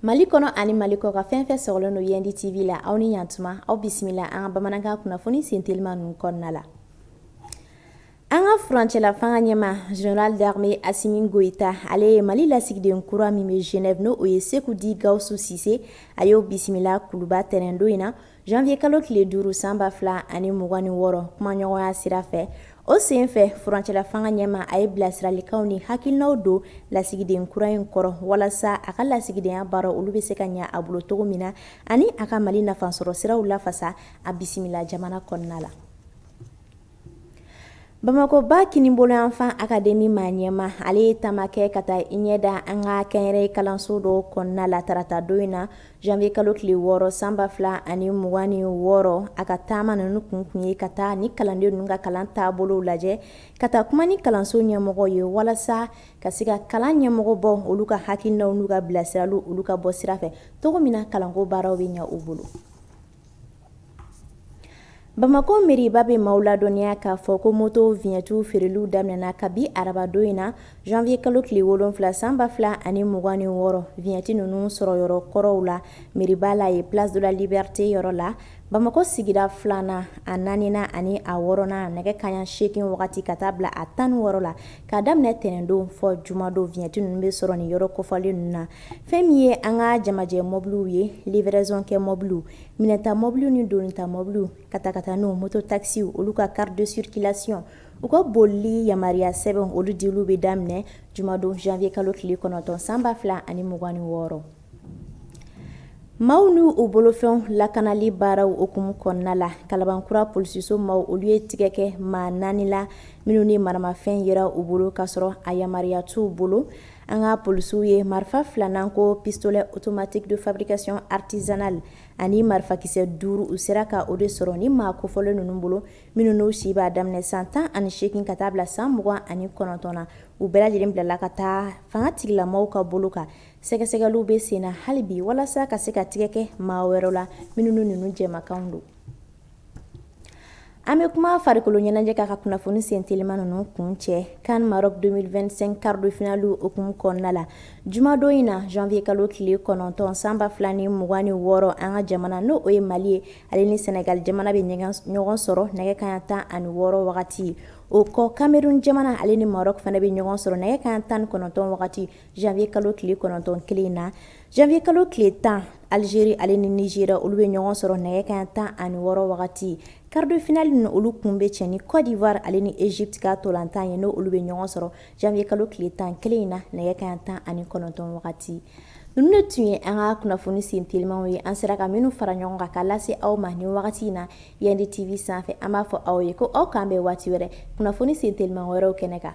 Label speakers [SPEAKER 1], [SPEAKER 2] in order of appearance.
[SPEAKER 1] Mali kɔnɔ ani mali kɔkan fɛn fɛn sɔgɔlen don Yendi TV la aw ni ɲantuma aw bisimila an ka bamanankan kunnafoni sen teliman ninnu kɔnɔna la an ka furancɛla fanga ɲɛma Général d'armée Assimi Goïta ale ye mali lasigiden kura min bɛ Genève n' o ye Sékou dit Gaoussou Cissé a y'o bisimila kuluba tɛnɛndon in na Janvier kalo tile duuru san ba fila ani mugan ni wɔɔrɔ kumaɲɔgɔnya sira fɛ o senfɛ furancɛla fanga ɲɛma a ye bilasiralikanw ni hakilinaw don lasigiden kura in kɔrɔ walasa a ka lasigidenya baara olu bɛ se ka ɲɛ a bolo cogo min na ani a ka mali nafa sɔrɔ siraw lafasa a bisimila jamana kɔnɔna la Bamakɔ ba kininbolo yanfan akademi maa ɲɛma ale ye taama kɛ ka taa i ɲɛ da an ka kɛnyɛrɛye kalanso dɔw kɔnɔna la taratadon in na janvier kalo tile wɔɔrɔ san ba fila ani mugan ni wɔɔrɔ a ka taama ninnu kun tun ye ka taa ni kalanden ninnu ka kalan taabolow lajɛ ka taa kuma ni kalanso ɲɛmɔgɔw ye walasa ka se ka kalan ɲɛmɔgɔ bɔ olu ka hakilinaw n'u ka bilasiraliw olu ka bɔ sira fɛ cogo min na kalanko baaraw bɛ ɲɛ u bolo Bamakɔ meriba bɛ maaw ladɔnniya k'a fɔ ko moto viɲɛti feereliw daminɛna kabi arabadon in na janvier kalo tile wolonwula san ba fila ani mugan ni wɔɔrɔ viɲɛti ninnu sɔrɔ yɔrɔ kɔrɔw la meriba la ye place de la liberté yɔrɔ la bamakɔ sigida filanan a naaninan ani a wɔɔrɔnan nɛgɛ kanɲɛ segin wagati ka taa bila a tan ni wɔɔrɔ la K'a daminɛ tɛnɛndon fɔ jumadon viɲɛti ninnu bɛ sɔrɔ nin yɔrɔ kofɔlen ninnu na fɛn min ye an ka jamajɛ mobiliw ye livraison kɛ mobiliw minɛnta mobiliw ni donita mɔbiliw katakataniw moto takisiw olu ka carte de circulation u ka bolili yamaruya sɛbɛnw olu diliw bɛ daminɛ jumadon janvier kalo tile kɔnɔntɔn san ba fila ani mugan ni wɔɔrɔ Maaw n' u bolofɛnw lakanali baaraw hukumu kɔnɔna la kalabankura polisiso maaw olu ye tigɛ kɛ maa naani la minnu ni maramafɛn yera u bolo ka sɔrɔ a yamaruya t'u bolo an ka polisiw ye marifa fila n'an ko pistolet automatique de fabrication artisanale ani marifakisɛ duuru u sera ka o de sɔrɔ nin maa kofɔlen ninnu bolo minnu n'u si b'a daminɛ san tan ani segin ka taa bila san mugan ani kɔnɔntɔn na u bɛɛ lajɛlen bilala ka taa fangatigila maaw ka bolo kan Sɛgɛsɛgɛliw bɛ sen na hali bi walasa ka se ka tigɛ kɛ maa wɛrɛw la minnu ninnu jɛkan don an bɛ kuma farikolo ɲɛnajɛ kan ka kunnafoni sen teliman ninnu kuncɛ CAN Maroc deux mille vingt-cinq quart de finale o hukumu kɔnɔna la jumadon in na janvier kalo tile kɔnɔntɔn san ba fila ni mugan ni wɔɔrɔ an ka jamana n' o ye mali ye ale ni Sénégal jamana bɛ ɲɔgɔn sɔrɔ nɛgɛ kanɲɛ tan ani wɔɔrɔ wagati o kɔ Cameroun jamana ale ni Maroc fana bɛ ɲɔgɔn sɔrɔ nɛgɛ kanɲɛ tan ni kɔnɔntɔn wagati Zanwuye kalo tile kɔnɔntɔn kelen in na zanwuye kalo tile tan alizeri ale ni nizeriya olu bɛ ɲɔgɔn sɔrɔ nɛgɛ kanɲɛ tan ani wɔɔrɔ wagati karidefinali ninnu olu kun bɛ cɛ ni kɔdiwari ale ni ezipiti ka ntolatan ye n' olu bɛ ɲɔgɔn sɔrɔ zanwuye kalo tile tan kelen in na nɛgɛ kanɲɛ tan ani kɔnɔntɔn wagati ninnu de tun ye an ka kunnafoni sen telimaw ye an sera ka minnu fara ɲɔgɔn kan ka lase aw ma ni wagati in na Yendi TV sanfɛ an b'a fɔ aw ye ko aw k' an bɛn waati wɛrɛ kunnafoni sen teliman wɛrɛw kɛnɛ kan